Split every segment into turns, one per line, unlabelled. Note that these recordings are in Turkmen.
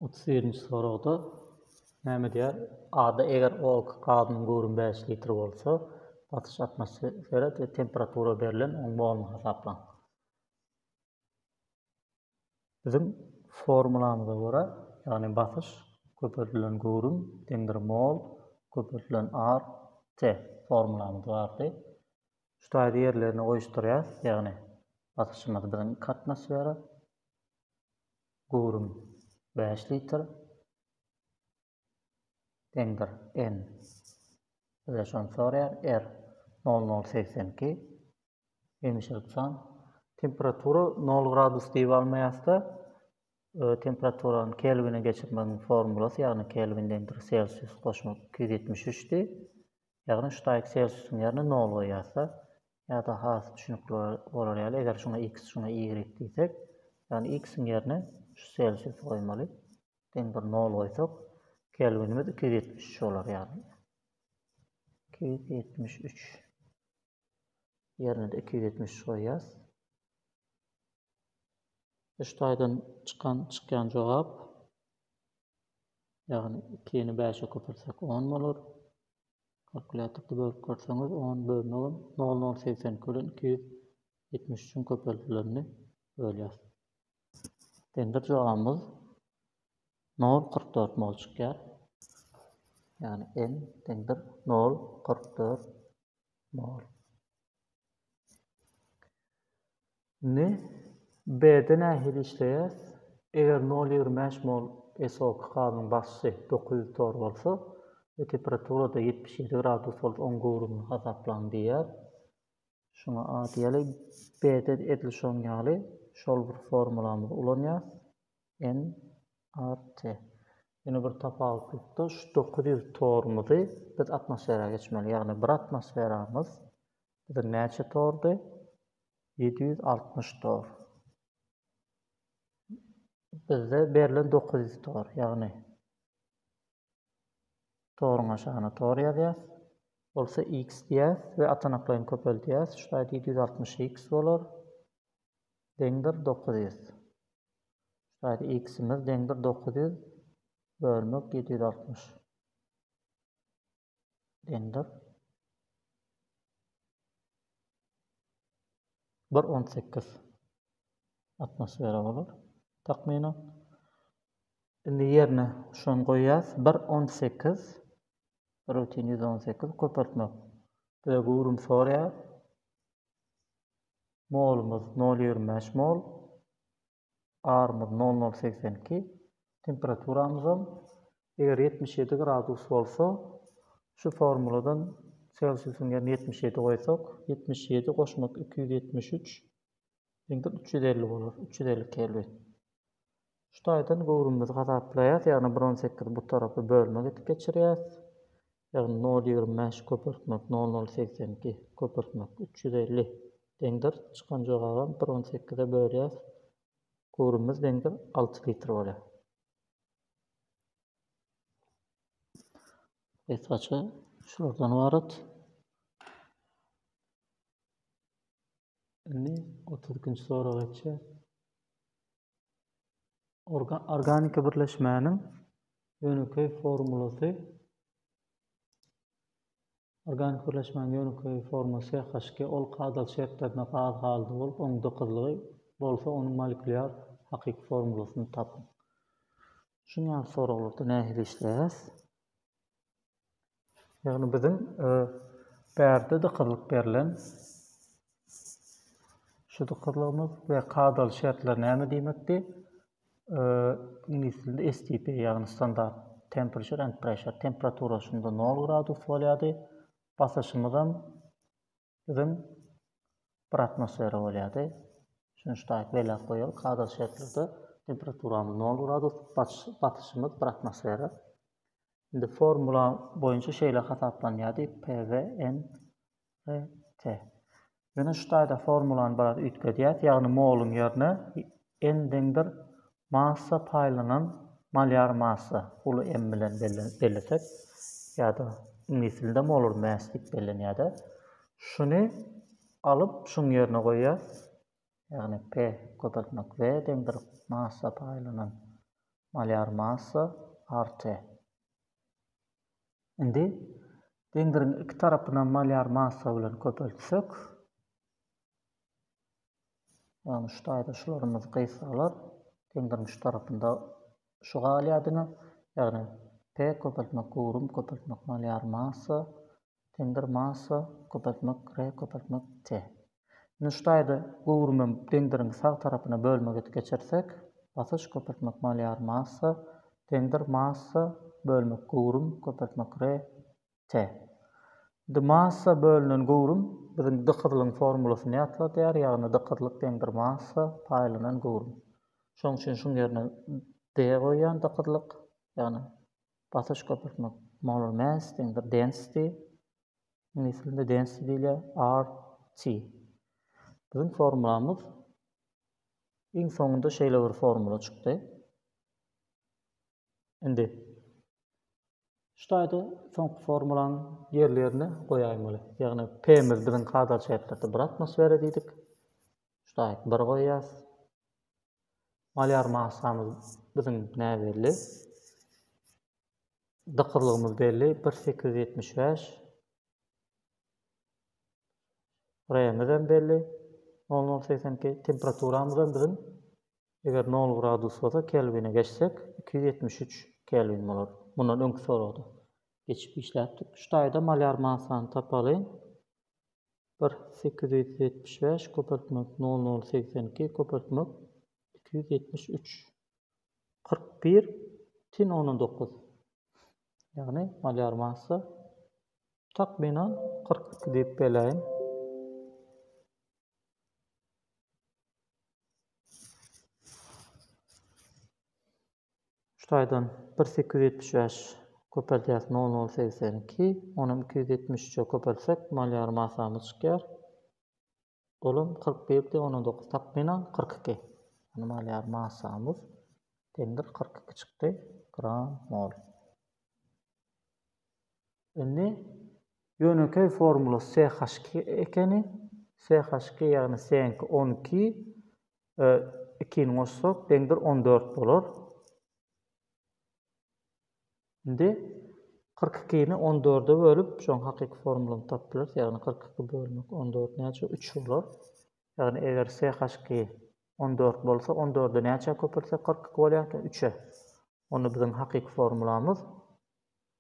Otuz birinji soragda näme diýer? A-da eger ol gazynyň göwrümi bäş litr bolsa, basyş atmosfera we temperatura berlen oň moluny hasaplaň. Biziň formulamyza görä, ýagny basyş köpeldilen göwrüm deňdir mol köpeldilen R T formulamyz bardy. Şu taýda ýerlerini goýuşdyrýarys, ýagny basyşymyz biziň iki atmosfera, göwrüm bäş litr, deňdir, N bize şony soraýar, R nol nol segsen iki, hemişelik san, temperatura nol gradus diýip almaýasda, temperaturany kelwine geçirmegiň formulasy, ýagny kelwin deňdir selsius goşmak iki ýüz ýetmiş üçdi, Ýagny şu taýy Celsiusyň ýerine nol goýýarsa, ýa-da has düşünikli bolar ýaly, eger şuňa x, şuňa y diýsek, ýagny x-iň ýerine şu Celsiusy goýmaly. Deň bir nol goýsak, kelwinimiz iki ýüz ýetmiş üç bolar ýagny. Iki ýüz ýetmiş üç. ýerine-de iki ýüz ýetmiş üç goýýas. Üç taýdan çykan çykýan jogap ýagny ikini bäşe köpeltsek on bolar. Kalkulýatorda bölüp görseňiz on bölmegem nol nol segsen iki bilen iki ýüz ýetmiş üçiň köpeldilenini bölýäs. Dender jogabymyz nol kyrk dört mol çykýar. Ýagny n deňdir nol kyrk dört mol. Indi B-de nähili işleýär? Eger nol ýigrimi bäş mol SO2 gazynyň basy dokuz ýüz tor bolsa we temperaturada ýetmiş ýedi gradus bolup oň göwrümini hasaplaň diýýär. Şuňa a diýeli. B-de edil şoň ýaly şol bir formulamyzy ulanýar. NRT. Ýene bir tapawutlykda şu dokuz ýüz torumyzy biz atmosfera geçmeli. Ýagny bir atmosferamyz biziň näçe tordy? Ýedi ýüz altmyş tor. Bizde berlen dokuz ýüz tor. Ýagny Toruň aşagyna tor ýazýas. Bolsa x diýýäs we atanaklaýyn köpeldýäs. Şu taýda ýedi ýüz altmyş x bolar. Deňdir dokuz ýüz. Şu taýda x-imiz deňdir dokuz ýüz bölmek ýedi ýüz altmyş. Deňdir. Bir on sekiz. atmosfera bolar takmynan. Indi ýerine şony goýýas, bir on sekiz, rutin ýüz on sekiz köpeltmek bize göwrüm sorýar. Molumyz nol ýigrimi bäş mol, arymyz nol nol segsen iki, temperaturamyzam eger ýetmiş ýedi gradus bolsa, şu formuladan selsiusyň ýerine ýetmiş ýedi goýsak, ýetmiş ýedi goşmak iki ýüz ýetmiş üç, Indi üç ýüz elli bolar, üç ýüz elli kelwin. Şu taýdan göwrümimizi hasaplaýas, ýagny bir on sekiz bu tarapy bölmek edip geçirýäs. Ýagny nol ýigrimi bäş köpeltmek nol nol segsen iki köpeltmek üç ýüz elli deňdir. Çykan jogabam bir on sekize bölýäs. Göwrümimiz deňdir alty litr bolýar. Esgaça şulardan ybarat. Indi otuz ikinji sorag geçýär. Organ, organiki birleşmäniň ýönekeý formulasy Organik birleşmäniň ýönekeý formasy HG ol kadaly şertlerde gaz halda bolup, onuň dykyzlygy bolsa onuň molekulýar hakyky formulasyny tapyň. Şuň ýaly soraglarda nähili işleýäs? Ýagny biziň bärde dykyzlyk berlen şu dykyzlygymyz we kadaly şertler näme diýmekdi? Iňlis dilinde STP ýagny standart temperature and pressure temperatura şunda 0 gradus bolýardy. Basyşymyzam Düzüm bir atmosfera bolýardy. Üçünji taýyk belläp goýaly, kadr şertlerde temperaturamyz 0 gradus, batyşymyz bir atmosfera. Indi formula boýunça şeýle hasaplanýardy, PVN RT. Ýöne şu taýda formulany biraz üýtgedýäs, ýagny moluň ýerine N deňdir Massa paýlanan malýar massa, uly M bilen bellesek, ýa-da iňlis dilinde molar mass diýip bellenýär-de, şuny alyp, şuň ýerine goýýas, ýagny P köpeltmek V deňdir massa paýlanan malýar massa art-T. Indi deňdiriň iki tarapynam malýar massa bilen köpeltsek, Ýagny şu taýda şularymyz gysgalar geň durmuş tarapynda şu galýar diňe. Ýagny P köpeltmek gurum köpeltmek malyar massa deňdir massa köpeltmek R köpeltmek T. Indi şu taýda guruma deňdiriň sag tarapyna bölmek edip geçirsek basyş köpeltmek malyar massa deňdir massa bölmek gurum köpeltmek R T. D. Massa bölünen göwrüm biziň dykyzlygyň formulasyny ýatladýar, ýagny dykyzlyk deňdir massa paýlanan göwrüm. Şonuň üçin şuň ýerine D goýýan dykyzlyk, ýagny basyş köpeltmek, molar mass deňdir density, iňlis dilinde density diýilýär, R. T. Biziň formulamyz iň soňunda şeýle bir formula çykdy. Indi şu taýda soňky formulany ýerli ýerine goýaýmaly. Ýagny P-miz biziň kadaly şertlerde 1 atmosfera diýdik. Şu taýda 1 goýýas. Malýar massamyz biziň näbelli. Dykyzlygymyz belli 1875. Remiz hem belli. 0082 temperaturamyz hem biziň Eger nol gradus bolsa kelwine geçsek iki ýüz ýetmiş üç kelwin bolar. Mundan öňki soragda geçip işläpdik. Şu taýda malýar massany tapaly. Bir sekiz ýüz ýetmiş bäş köpeltmek nol nol segsen iki köpeltmek iki ýüz ýetmiş üç kyrk bir tin ondan dokuz. Ýagny malýar massa takmynan kyrk iki diýip beläýin. Şu taýdan bir sekiz ýüz ýetmiş bäş köpeldýäs nol nol segsen iki, onam iki ýüz ýetmiş üçe köpeltsek malýar masamyz çykýar. Olam kyrk bir diýip ona dokuz takmynan kyrk iki. Ýani malýar masamyz deňdir kyrk iki çykdy gram mol. Indi ýönekeý formula CH2 ekeni. CH2 ýagny CH2 on iki, ikini goşsak deňdir on dört bolar. Indi kyrk ikini on dörde bölüp, şoň hakyky formulany tapyp bileris. Ýagny kyrk iki bölmek on dört näçe? Üç bolar. Ýagny eger CH2 on dört bolsa, on dördi näçä köpeltsek kyrk iki bolýarka? Üçe. Onda biziň hakyky formulamyz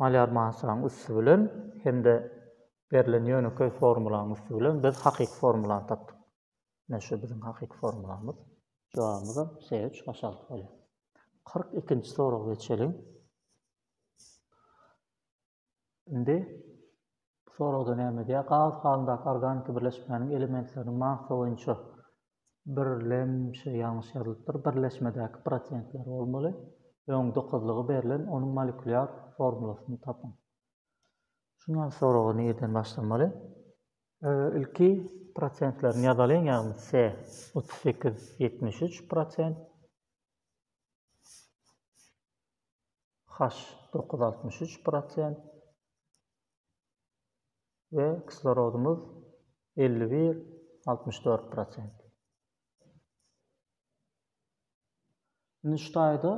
malýar mansanyň üsti bilen hem-de berlen ýönekeý formulanyň üsti bilen biz hakyky formulany tapdyk. Ine şu biziň hakyky formulamyz. Jogabymyzam se üç baş alty bolýar. Kyrk ikinji soraga geçeliň. Indi Bu soragda näme edýär? Gaz halyndaky organiki birleşmäniň elementleriniň massa boýunça birlemşi ýalňyş ýazylypdyr. Birleşmedäki prosentleri bolmaly. Öň dykyzlygy berlen onuň molekulýar formulasyny tapyň. Şuňa soragy nireden başlamaly? Ilki prosentlerini ýazalyň, ýagny C 38 73 prosent, H 9 63 prosent, we kislorodymyz elli bir, altmyş dört prosent. Indi şu taýda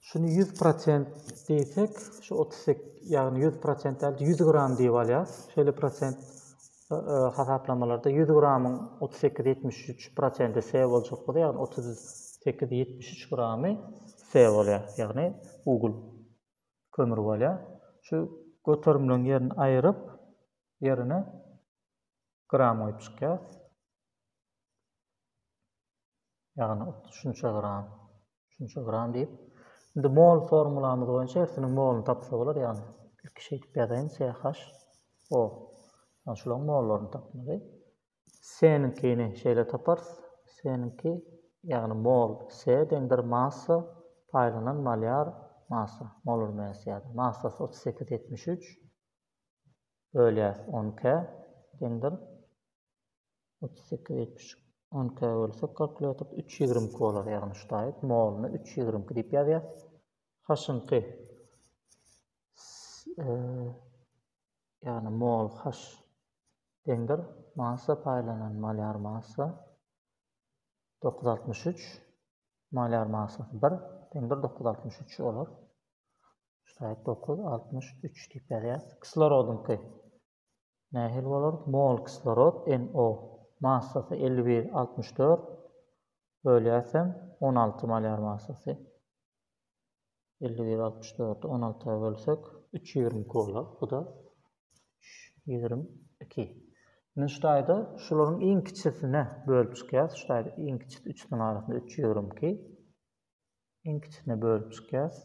şuny ýüz prosent diýsek, şu otuz sekiz, ýagny ýüz prosent däl, ýüz gram diýip alýarys. Şeýle prosent e, e, hasaplamalarda ýüz gramyň otuz sekiz ýetmiş üç prosenti S boljak bolsa, ýagny otuz sekiz ýetmiş üç gramy S bolýar, ýagny ugl. kömür bolýar. Şu göterimleň ýerini aýyryp, ýerine gram goýup çykýas. Ýagny şunça gram, şunça gram diýip. Indi mol formulamyz boýunça hersiniň moluny tapsa bolar, ýagny ilki şeýdip ýazaýyn CH O. Ýagny şularyň mollaryny tapmaly. Seniňkini şeýle taparys, seniňki, ýagny mol, se deňdir massa, paýlanan malýar, massa, molar mass ýa-da massasy otuz sekiz ýetmiş üç bölýär on k deňdir otuz sekiz ýetmiş üç on k bölsek kalkulýatorda üç ýigrimi iki bolar, ýagny şu taýyp moluny üç ýigrimi iki diýip ýazýas. Haşyňky ýagny mol H deňdir massa paýlanan molýar massa dokuz ýüz altmyş üç molýar massasy bir deňdir dokuz ýüz altmyş üç bolar. Şaýat dokuz ýüz altmyş üç diýip ýazýarys. Kislorodyňky nähili bolar? Mol kislorod NO massasy elli bir altmyş dört bölýäsem on alty molýar massasy. Elli bir altmyş dördi on alta bölsek. Üç ýigrimi iki bolar. Bu-da üç ýigrimi iki. Indi şu taýda şularyň iň kiçisine bölüp çykýas. Şu taýda iň kiçisi üçüsiň arasynda üç ýigrimi iki. Iň kiçisine bölüp çykýas.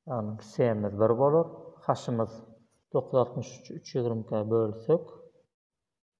Ýagny S-miz bir bolar. H-ymyz dokuz altmyş üçi üç ýigrimi ikä bölsek.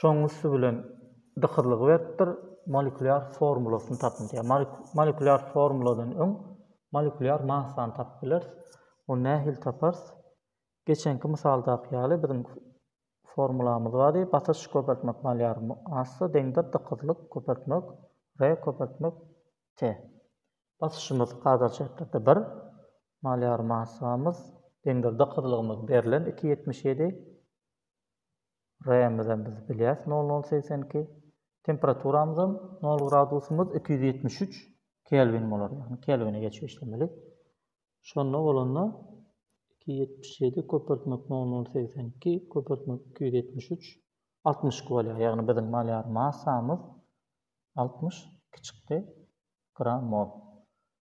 Şonuň üsti bilen dykyzlygy beripdir, molekulýar formulasyny tapyň diýýär. Molekulýar formuladan öň molekulýar massany tapyp bileris. Ony nähili taparys? Geçenki mysaldaky ýaly biziň formulamyz bardy, basyş köpeltmek molear massa deňdir dykyzlyk köpeltmek R köpeltmek T. Basyşymyz hazirki şertlerde bir, molear massamyz deňdir dykyzlygymyz berlen iki ýetmiş ýedi, R-imizem biz bilýäs nol nol segsen iki. Temperaturamyzam nol gradusymyz iki ýüz ýetmiş üç kelwin bolar. Ýagny kelwine geçip işlemeli. Şonda bolanda iki ýüz ýetmiş ýedi köpeltmek nol nol segsen iki köpeltmek iki ýüz ýetmiş üç altmyş iki bolýar. Ýagny biziň malýar massamyz altmyş iki çykdy gram mol.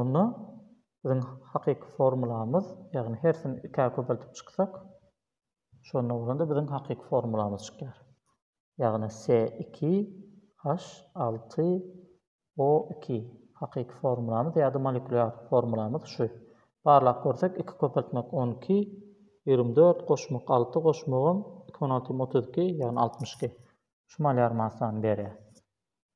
Onda biziň hakyky formulamyz, ýagny hersini ikä köpeltip çyksak, şonda bolanda biziň hakyky formulamyz çykýar. Ýagny se iki haş alty o iki hakyky formulamyz ýa-da molekular formulamyz şu. Barlap görsek iki köpeltmek on iki, ýigrimi dört goşmak alty goşmagam iki on alty ýigrimi otuz iki, ýagny altmyş iki. Şu molar massany berýär.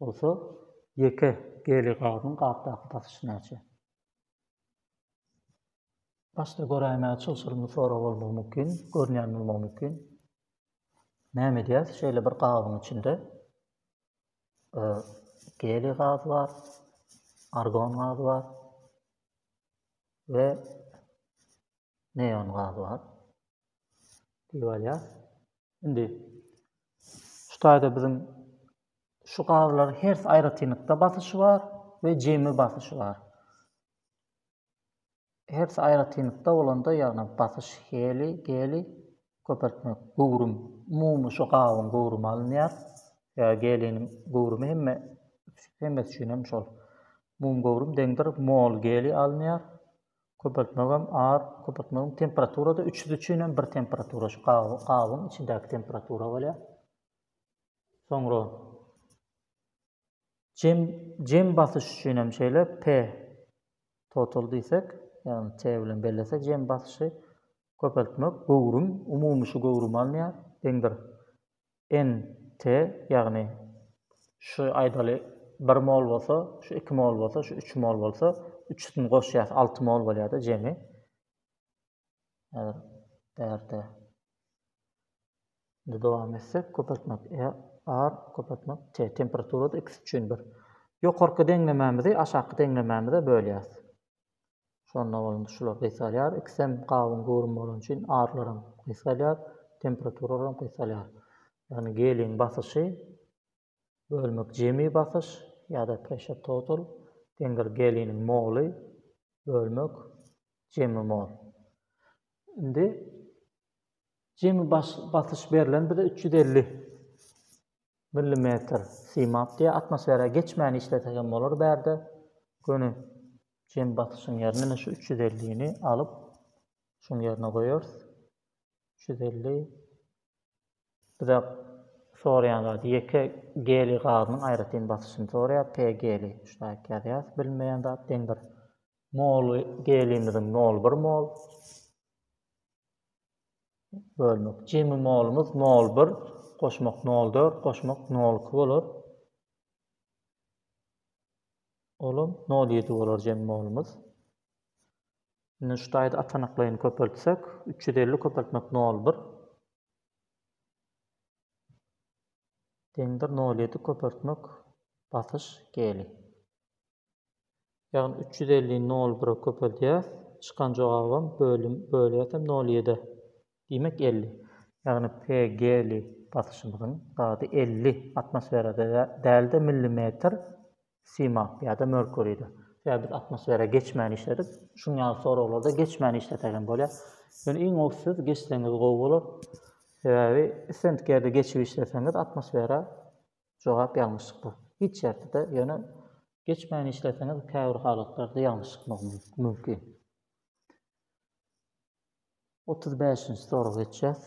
Bolsa ýeke geli gazyň gapdaky basyşy näçe? Başda göräýmäge çylşyrymly sorag bolmagy mümkin, görünýän bolmagy mümkin. Näme edýäs? Şeýle bir gabyň içinde geli gaz bar, argon gazy bar we neon gazy bar. Diýip alýar. Indi şu taýda biziň şu gazlar her aýratynlykda basyşy bar we jemi basyşy bar. Her aýratynlykda bolanda, ýagny basyş heli, geli köpeltmek, göwrüm, umumy şu gabyň göwrümi alynýar. Ýa geliniň göwrümi hemme hemmesi üçin hem şol. Mum göwrüm deňdir mol geli alynýar. Köpeltmegem ar, köpeltmegem temperaturada üçüsi üçin hem bir temperatura şu gabyň içindäki temperatura bolýar. Soňra jem jem basyş üçin hem şeýle P total diýsek, ýagny T bilen bellesek jem basyşy köpeltmek göwrüm umumy şu göwrümi alýar. Deň bir NT, ýagny şu aýdaly bir mol bolsa, şu iki mol bolsa, şu üç mol bolsa, üçüsini goşýas, alty mol bolýar-da jemi. Häzir bärde Indi dowam etsek, köpeltmek e, R, köpeltmek T. Temperaturada x üçin bir. Ýokarky deňlemämizi aşaky deňlemämize bölýäs. Şonda bolanda şular gysgalýar. Ikisem gabyň göwrümi bolany üçin arlaram gysgalýar, temperaturalarym gysgalýar. Ýagny geliň basyşy bölmek jemi basyş ýa-da pressure total deňdir geliniň moly bölmek jemi mol. Indi jemi basyş berlen bize 350. Millimetr, simap diýýär, atmosfera geçmän işlese hem bolar bärde. Göni jem basyşyň ýerine ine şu üç ýüz ellini alyp, şuň ýerine goýarys. Üç ýüz elli. Bize soraýan zady ýeke geliý gazynyň aýratyn basyşyny soraýar, P geliý. Ştaýk ýazýarys, bilinmeýän zat, deň bir. Moly geliýimiziň nol bir mol. Bölmek. Jemi molumyz nol bir, goşmak nol dört, goşmak nol iki bolar. Olam nol ýedi bolar jemi molumyz. Indi şu taýda atanaklaýyny köpeltsek, üç ýüz elli köpeltmek nol bir. Deňdir nol ýedi köpeltmek basyş geli. Ýagny üç ýüz elli nol bire köpeldýäs, çykan jogabam bölüm bölýäs hem nol ýedä. Diýmek elli. Ýagny PG-li basyşymyzyň grady elli atmosferada däl-de millimetr simap ýa-da merkuride. Sebäbi biz atmosfera geçmän işledik. Şuň ýaly soraglarda geçmän işlesek hem bolýar. Ýöne iň gowy siz geçseňiz gowy bolar. Sebäbi islendik ýerde geçip işleseňiz atmosfera Jogap ýalňyşlykda. Hiç ýerde-de, ýöne geçmän işleseňiz käbir halatlarda ýalňyşykmak mümkin. Otuz bäşinji soraga geçýäs.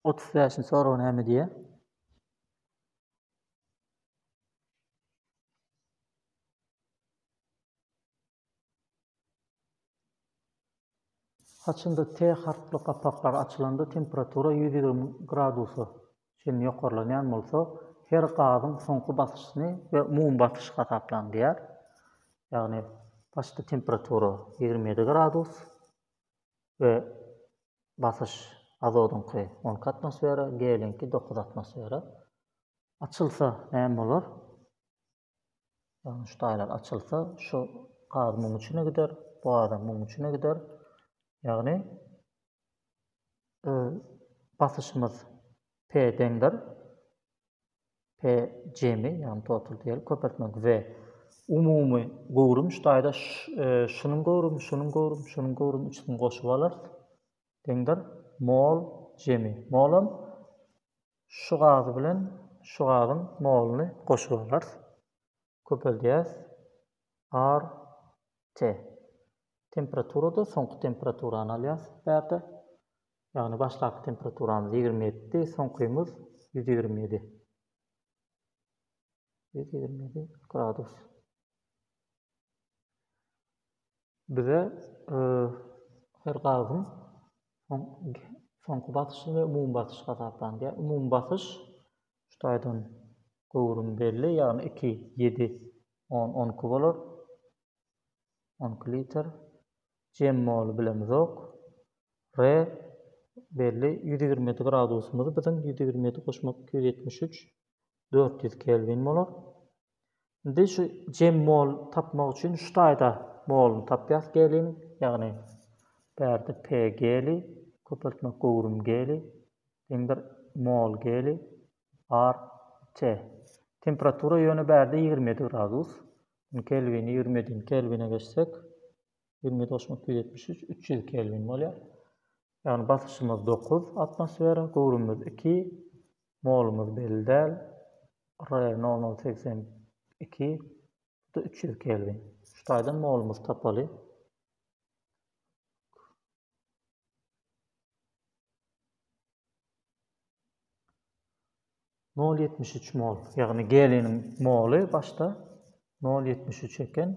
Otuz bäşinji sorag näme diýýär? Saçynda T harply gapaklar açylanda temperatura ýüz ýigrimi gradusa çenli ýokarlanýan bolsa, her gazyň soňky basyşyny we umumy basyşy hasaplaň diýýär. Ýagny başda temperatura ýigrimi ýedi gradus we basyş azodyňky on iki atmosfera, geliňki dokuz atmosfera. Açylsa näme bolar? Ýagny şu taýlar açylsa, şu gaz muň içine gider, bu gazam muň içine gider. Ýagny basyşymyz P deňdir. P jemi, ýagny total diýeli köpeltmek V. Umumy göwrüm şu taýda şunuň göwrümi, şunuň göwrümi, şunuň göwrümi üçüsini goşup alar. Deňdir. Mol, jemi. Molam şu gazy bilen şu gazyň moluny goşup alarys. Köpeldýäris. Ar, te. Temperaturada soňky temperaturany alýas bu ýerde. Ýagny başdaky temperaturamyz ýigrimi ýedidi, soňkymyz ýüz ýigrimi ýedi. Ýüz ýigrimi ýedi gradus. Bize her gazyň soňky basyşy we umumy basyş hasaplanylýar. Umumy basyş şu taýdan göwrümi belli, ýagny iki, ýedi, on, on iki bolar. On iki litr. Jem moly bilemizok. R belli. Ýüz ýigrimi ýedi gradusymyz biziň ýüz ýigrimi ýedi goşmak iki ýüz ýetmiş üç, dört ýüz kelwin bolar. Indi şu gemmol tapmak üçin şu taýda moluny tapýas geliniň, ýagny bärde p geli, köpeltmek göwrüm geli, deňdir mol geli, ar t. Temperatura ýöne bärde ýigrimi ýedi gradus. Munuň kelwini ýigrimi ýedini kelwine geçsek, ýigrimi ýedi goşmak ýüz ýetmiş üç, üç ýüz kelwin bolýar. Ýagny basyşymyz dokuz atmosfera, göwrümimiz iki, molumyz belli däl, R nol nol segsen iki, bu-da üç ýüz kelwin. Şu taýdan molumyzy tapaly. Nol ýetmiş üç mol, ýagny geliniň moly başda nol ýetmiş üç eken.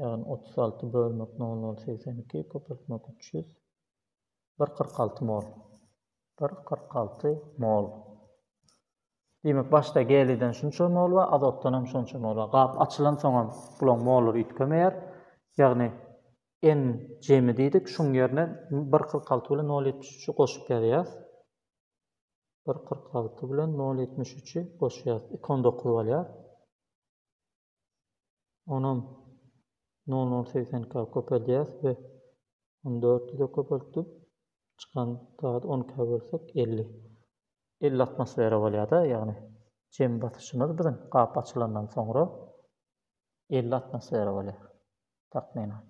Ýagny, otuz alty bölmek nol nol segsen iki, köpeltmek üç ýüz, bir kyrk alty mol. Bir kyrk alty mol. Diýmek, başda geliden şunça mol bar, azotdan hem şonça mol bar. Gap açylansoň hem bulaň mollary üýtgemeýär. Ýagny, N jemi diýdik, şuň ýerine bir kyrk alty bilen nol ýetmiş üçi goşup ýazýas. Bir kyrk alty bilen nol ýetmiş üçi goşýas. Iki on dokuz bolýar. Onam nol nol segsen ka köpeldýäs we ony dört ýüze köpeltdik. Çykan zady on ka bölsek elli. Elli atmosfera bolýada, ýagny jem basyşymyz biziň gap açylandan soňra elli atmosfera bolýar, takmynan.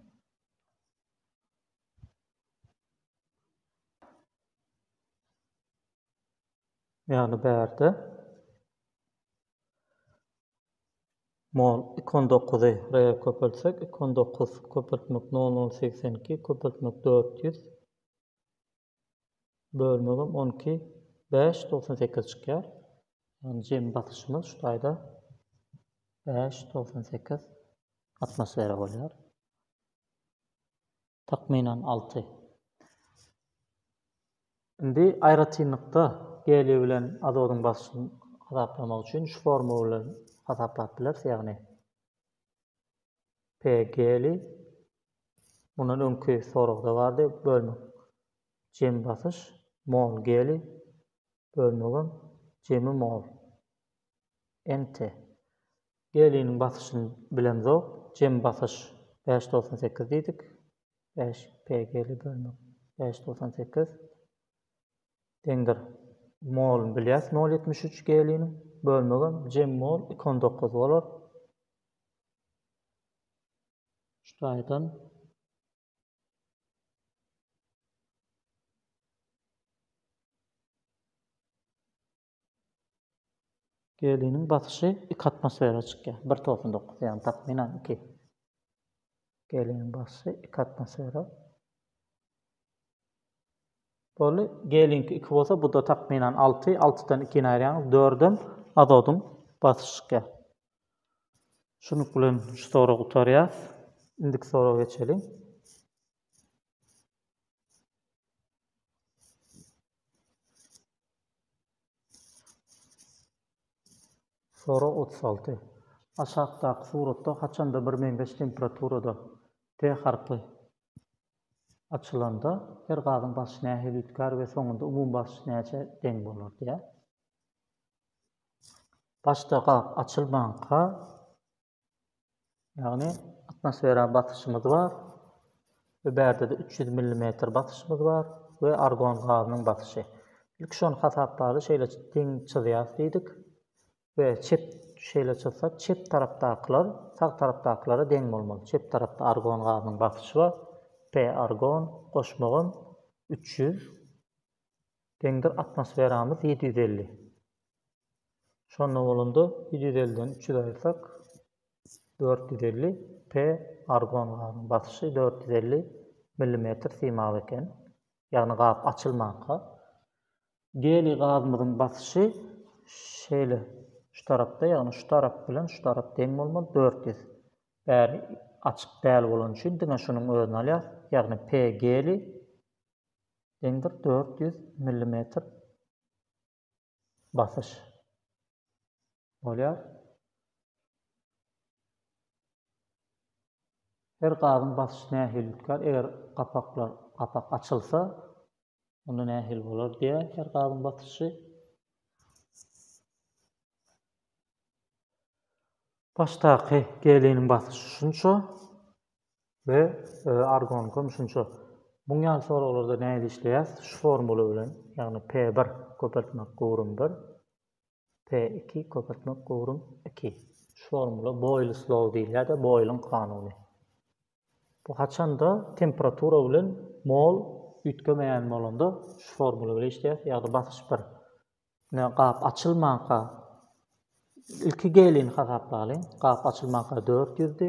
Ýagny bärde Mol, iki on dokuzy, rel köpeltsek, iki on dokuz, köpeltmek, nol nol, segsen iki, köpeltmek, dört ýüz, bölmegem, on iki, bäş, togsan sekiz çykýar. Ýagny jemi basyşymyz şu taýda bäş, togsan sekiz atmosfera bolýar. Takmynan alty. Indi aýratynlykda geliý bilen azodyň basyşyny hasaplamak üçin şu formula bilen hasaplap bileris, ýagny P geliý, mundan öňki soragda bardy, bölmek jemi basyş, mol geliý, bölmegem jemi mol. NT. Geliniň basyşyny bilemzok, jem basyş bäş togsan sekiz diýdik, bäş PG-le bölmek bäş togsan sekiz deňdir. Moluny bilýäs nol ýetmiş üç geliniň, bölmegem jem mol iki on dokuz bolar. Şu taýdan Geliniň basyşy iki atmosfera çykýar. Bir tosun dokuz, ýagny takmynan iki. Geliniň basyşy iki atmosfera. Boldy. Gelinki iki bolsa, bu da takmynan alty. Altydan ikini aýyrýaňyz, dördem azodyň basyşy çykýar. Şunuň bilen şu soragy gutarýar. Indiki soraga geçeliň. Sorag otuz alty. Aşakdaky suratda haçanda bir meňzeş temperaturada T harpy açylanda her gazyň basyşy nähili üýtgär we soňunda umumy basyş näçä deň bolar diýýär. Başda gap açylmanka Ýagny atmosfera basyşymyz bar we bärde-de 300 mm basyşymyz bar we argon gazynyň basyşy. Ilki şony hasaplaly, şeýle deň çyzýas diýdik we çep şeýle çyzsak, çep tarapdakylar sag tarapdakylara deň bolmaly. Çep tarapda argon gazynyň basyşy bar. P argon goşmagam 300 deňdir atmosferamyz 750. Şonda bolanda ýüz ýüz elliden üç ýüz aýyrsak, dört ýüz elli p. Argon gazynyň basyşy dört ýüz elli millimetr simawy eken, ýagny gap açylmanka. Geliý gazymyzyň basyşy şeýle, şu tarapda, ýagny şu tarap bilen şu tarap deň bolmaly, dört ýüz. Bäri açyk däl bolany üçin diňe şunuň özüni alýas, ýagny p. Geliý deňdir dört ýüz millimetr basyş bolýar. Her gazyň basyşy nähili tutýar? Eger gapaklar gapak açylsa, onda nähili bolar diýýär her gazyň basyşy. Başdaky geliniň basyşy şunça. we argon gümşünçe. Muň ýaly soraglarda nähili işleýäs? Şu formula bilen, ýagny P bir köpeltmek göwrüm bir, P iki köpeltmek göwrüm iki. Şu formula Boýls law diýilýär-de, Boýlyň kanuny. Bu haçanda temperatura bilen mol üýtgemeýän bolanda şu formula bilen işleýäs, ýagny basyş bir. Ine gap açylmanka ilki gelini hasaplalyň. Gap açylmanka dört ýüzdi.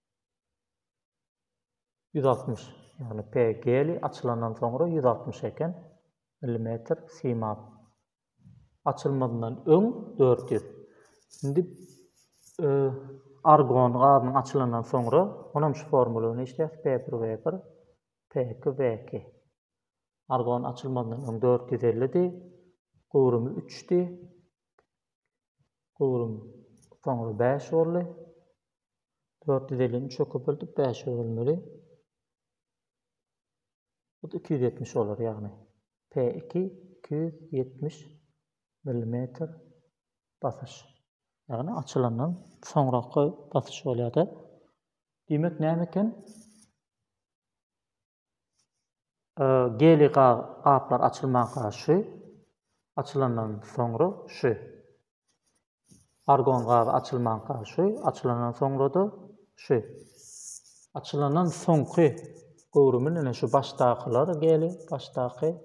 Ýüz altmyş, ýagny P geli açylandan soňra ýüz altmyş eken, millimetr simap. Açylmazyndan öň dört ýüz. Indi argon gazynyň açylandan soňra, onam şu formulany işleýäs, P bir V bir, P iki V iki. Argon açylmazyndan öň dört ýüz ellidi, göwrümi üçdi, göwrüm soňra bäş boldy, Dört ýüz ellini üçe köpeltip bäşe bölmeli. Bu da iki ýüz ýetmiş bolar ýagny. P iki iki ýüz ýetmiş millimetr basyş. Ýagny açylandan soňraky basyş bolýar-da. Diýmek näme eken? Geli gaplar açylmanka şu, açylandan soňra şu. Argon gaby açylmanka şu, açylandan soňra-da şu. Açylandan soňky göwrümi ine şu başdakylar geli, başdaky,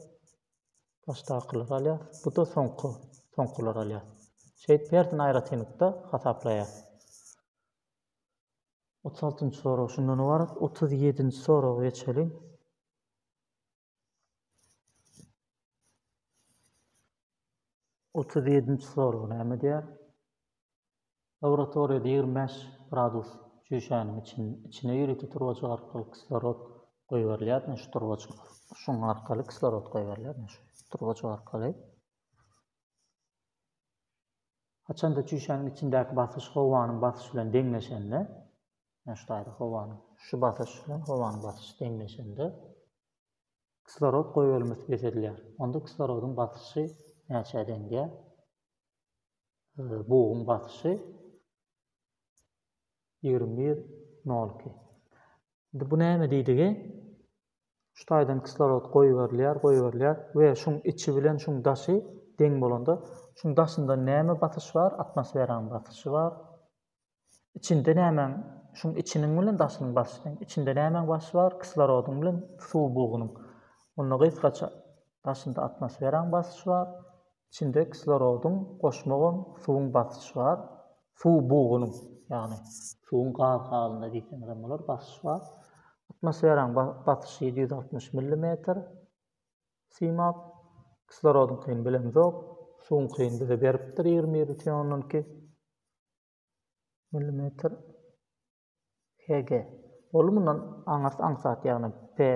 başdakylar alýar. Bu-da soňky, soňkular alýar. Şeýdip, hersini aýratynlykda hasaplaýar. Otuz altynjy sorag şundan ybarat. Otuz ýedinji soraga geçeliň. Otuz ýedinji sorag näme diýýär? Laboratoriýada ýigrimi bäş gradus çüýşäniň için, içine ýörite turbajyk arkaly kislorod goýberilýär. Şu turbajyk, şuň arkaly kislorod goýberilýär. Şu turbajyk arkaly. Haçanda çüýşäniň içindäki basyş howanyň basyşy bilen deňleşende, ýagny şu taýda howanyň şu basyş bilen howanyň basyşy deňleşende kislorod goýbermesi peselýär. Onda kislorodyň basyşy näçä deň gelýär? Buguň basyşy ýigrimi bir, nol iki. Indi bu näme diýdigi? Şu taýdan kislorod goýberilýär, goýberilýär we şuň içi bilen şuň daşy deň bolanda, şuň daşynda näme basyş bar? Atmosferanyň basyşy bar. Içinde nämäň, şuň içiniň bilen daşynyň basyşy deň. Içinde nämäň basyşy bar? Kislorodyň bilen suw bugunyň. Onda gysgaça, daşynda atmosferanyň basyşy bar, Içinde kislorodyň, goşmagam suwuň basyş bar. Suw bugunyň, ýagny suwuň gaz halynda diýseňizem bolar, basyş bar. Atmosferaň basyşy ýedi ýüz altmyş millimetr. Simap. Kislorodyňkyny bilemzok. Suwuňkyny bize beripdir ýigrimi ýedi mütn ondan iki millimetr. HG. Ol mundan aňyrs aňsat ýagny P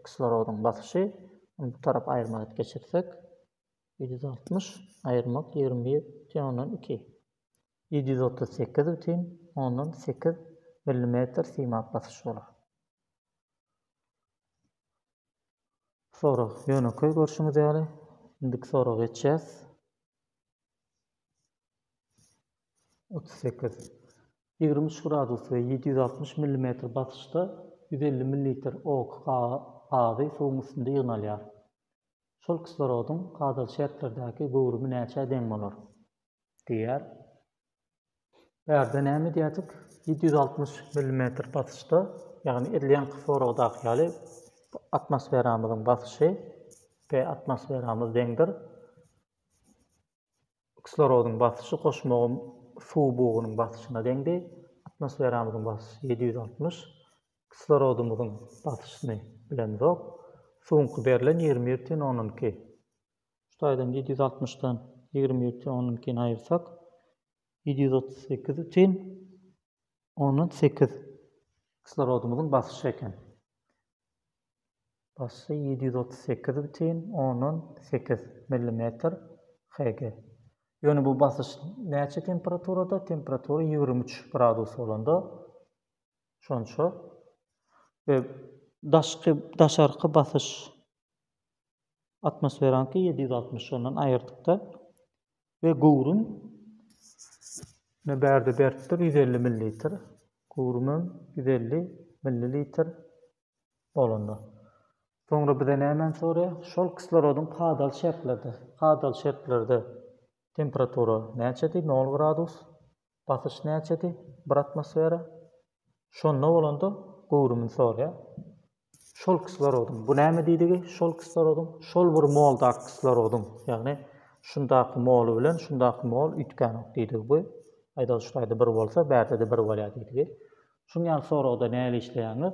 kislorodyň basyşy Ony bu tarap aýyrmak et geçirsek ýedi ýüz altmyş aýyrmak ýigrimi bir bütin ondan iki ýedi ýüz otuz sekiz bütin ondan sekiz millimetr simap basyş bolar. Sorag ýönekeý görşüňiz ýaly. Indiki soraga geçýäs. otuz sekiz, ýigrimi üç gradus we ýedi ýüz altmyş millimetr basyşda ýüz elli millilitr ok gazy suwuň üstünde ýygnalýar. Şol kislorodyň kadaly şertlerdäki göwrümi näçä deň bolar? diýýär. Bärde näme edýärdik? Ýedi ýüz altmyş millimetr basyşda, ýagny edilen kislorogdaky ýaly atmosferamyzyň basyşy, P atmosferamyz deňdir. Kislorodyň basyşy goşmagyň suw bugunyň basyşyna deňdi. Atmosferamyzyň basyşy ýedi ýüz altmyş. Kislorodymyzyň basyşyny bilemzok. Suwuňky berlen ýigrimi bir tüen ondan iki. Şu taýdan ýedi ýüz altmyşdan ýigrimi bir tüen ondan ikini aýyrsak, ýedi ýüz otuz sekiz tüen. On sekiz. Kislorodymyzyň basyşy eken. Basyşy ýedi ýüz otuz sekiz bütin ondan sekiz millimetr HG. Ýöne bu basyş näçe temperaturada? Temperatura ýigrimi üç gradus bolanda şonça we daşky daşarky basyş atmosferaňky ýedi ýüz altmyş ondan aýyrdykda we göwrüm ne bärde berkdir ýüz elli millilitr göwrümem ýüz elli millilitr bolanda soňra bize nämeni soraýar şol kislorodyň kadaly şertlerde kadaly şertlerde temperatura näçedi nol gradus Basyş näçedi? Bir atmosfera. Şonda bolanda göwrümini soraýar. Şol kislorodyň, bu näme diýdigi? Şol kislorodyň, şol bir moldaky kislorodyň, ýagny şundaky moly bilen şundaky mol üýtgänok diýdigi bu. Aýdalyşlaýda bir bolsa, bärde-de bir bolýar diýdigi. Şuň ýaly soragda nähili işleýäňiz?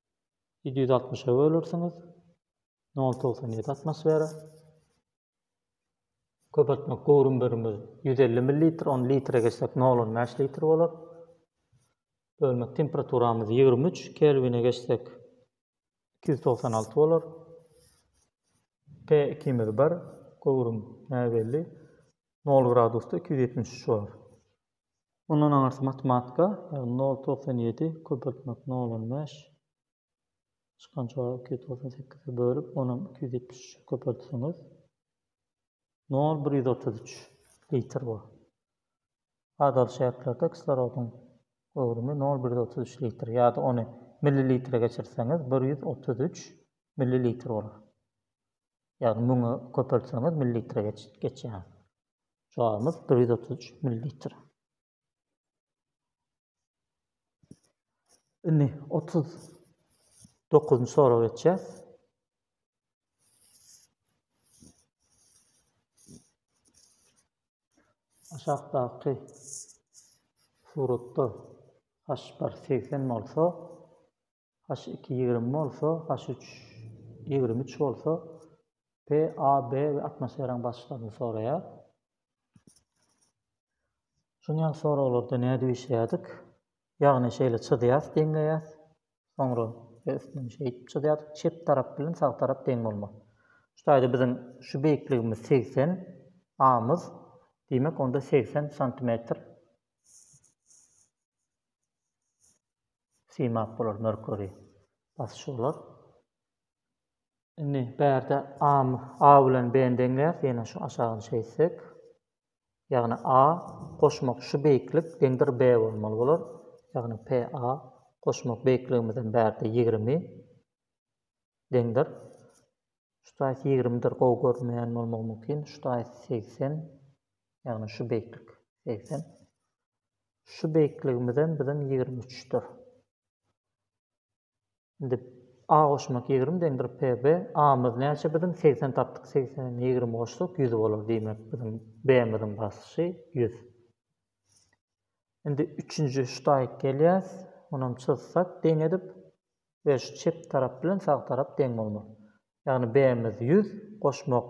ýedi ýüz altmyşa bölersiňiz nol togsan ýedi atmosfera köpeltmek göwrüm birimiz ýüz elli millilitr ony litre geçsek nol on bäş litr bolar bölmek temperaturamyz ýigrimi üç kelwine geçsek iki ýüz togsan alty bolar p ikimiz bir göwrüm näbelli nol gradusda iki ýüz ýetmiş üç bolar Mundan aňyrsy matematika, ýagny nol togsan ýedi köpeltmek nol on bäş, çykan jogap iki ýüz togsan sekize bölüp, onam iki ýüz ýetmiş üçe köpeltseňiz, nol bir ýüz otuz üç litr bor. Adaly şertlerde kislorodyň göwrümi nol bir ýüz otuz üç litr ýa-da ony millilitre geçirseňiz, bir ýüz otuz üç millilitr bolar. Ýagny müňe köpeltseňiz millilitre geçýär. Çagymyz bir ýüz otuz üç millilitr. Indi otuz dokuzynjy sorag geçýär. Aşakdaky suratda haş bar segsen bolsa, H iki ýigrimi bolsa, H üç ýigrimi üç bolsa, P, A, B we atmosferaň basyklygyny soraýar. Şuny ýaly soraglarda nädip işleýärdik? Ýagny şeýle çyzýas, deňleýäs. Soňra üstünden şeýdip çyzýas, çep tarap bilen sag tarap deň bolmaly. Şu taýda biziň şu beýikligimiz segsen amyz. Diýmek onda segsen santimetr. Simap bolar Merkuri basyşy bolar. Indi bärde A, A bilen B deňlär, ýene şu aşagyny çeýsek. Ýagny A goşmak şu beýiklik deňdir B bolmaly bolar. Ýagny PA goşmak beýikligimizden bärde 20 deňdir. Şu taýsy 20-dir, gowy görünmeýän bolmagy mümkin. Şu taýsy 80, ýagny şu beýiklik 80. Şu beýikligimizem biziň ýigrimi üçdir. Indi A goşmak ýigrimi deňdir PB. A-myz näçe biziň? Segsen tapdyk. Segsene ýigrimi goşsak, ýüz bolar. Diýmek, biziň B-miziň basyşy ýüz. Indi üçünji ştaýk gelýäs. Onam çyzsak deň edip we şu çep tarap bilen sag tarap deň bolmaly. Ýagny B-miz ýüz, goşmak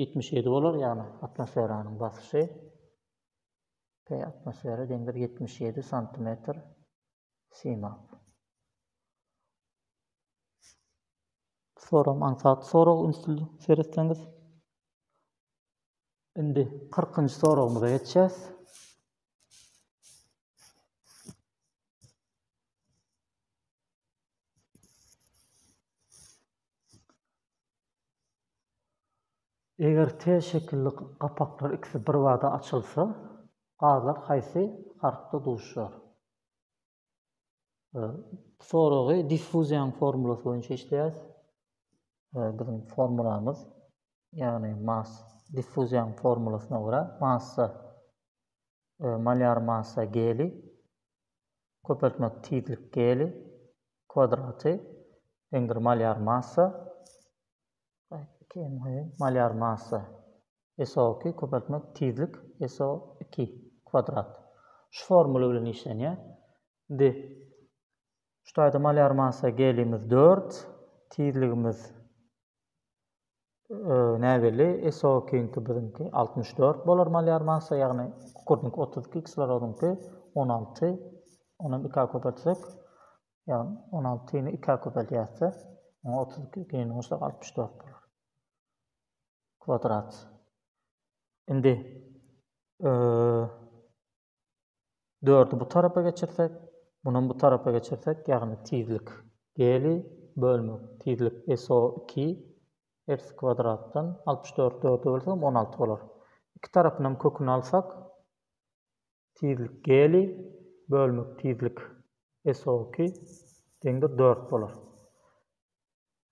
ýetmiş ýedi bolar ýagny atmosferanyň basyşy p atmosfera deňdir ýetmiş ýedi santimetr simap soram aňsat sorag ünsli seretseňiz indi kyrkynjy soragymyza geçýäs Eger T şekilli gapaklar ikisi birbada açylsa, gazlar haýsy harpda duşýar? Bu soragy diffuziýanyň formulasy boýunça işleýäris. Biziň formulamyz, ýagny massa diffuziýanyň formulasyna görä massa, malýar massa geliý köpeltmek tizlik geli kwadraty deňdir malýar massa malýar massa SO2 köpeltmek tizlik SO2 kwadrat şu formula bilen işlenýär. Indi şu taýda malýar massa gelimiz 4, tizligimiz Näbelli SOK-yňky biziňki altmyş dört bolar malýar massa, ýagny kukurdňky otuz iki, kislorodyňky on alty. Onam ikä köpeltsek, ýagny on altyny ikä köpeldýäsde, oňa otuz iki giň goşsak altmyş dört bolar. Kwadrat. Indi Dördi bu tarapa geçirsek, munam bu tarapa geçirsek, ýagny tizlik Geli bölmek tizlik SO iki X kwadratdan altmyş dört dörde bölsegem on alty bolar. Iki tarapynam köküni alsak, tizlik Geli bölmek tizlik SO iki deňdir dört bolar.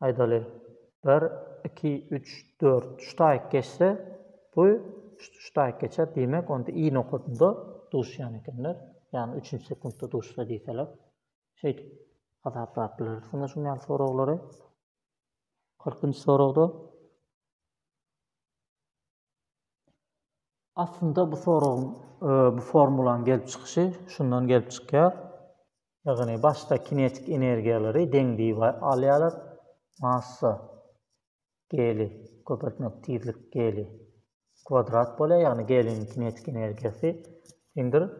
aýdaly, bir, iki, üç, dört ştaýk geçse, bu ştaýk geçer, diýmek, onda i nokadynda duşýan ekenler, ýagny üçünji sekuntda duşsa diýseler, şeýdip hasaplap bileris şonda şuň ýaly soraglary. Kyrkynjy soragda. Aslynda bu soragyň, bu formulanyň gelip çykyşy şundan gelip çykýar. Ýagny başda kinetik energiýalary deň diýip alýarlar. Massa geli köpeltmek tizlik geli kwadrat bolýar, ýagny geliniň kinetik energiýasy deňdir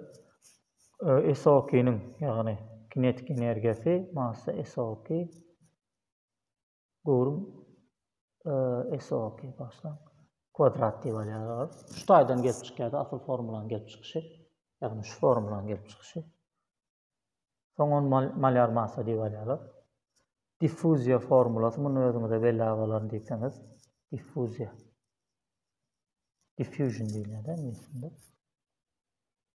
SO2-niň, ýagny kinetik energiýasy massa SO2 Göwrüm SOKY başlan kwadrat diýip alýarys. Şu taýdan gelip çykýar-da, asyl formulanyň gelip çykyşy. Ýagny şu formulanyň gelip çykyşy. Soň ony malýar massa diýip alýarlar. Diffuziýa formulasy muny özüňize belli agalarym diýseňiz, diffuziýa. Diffusion diýilýär-de ingliz dilinde.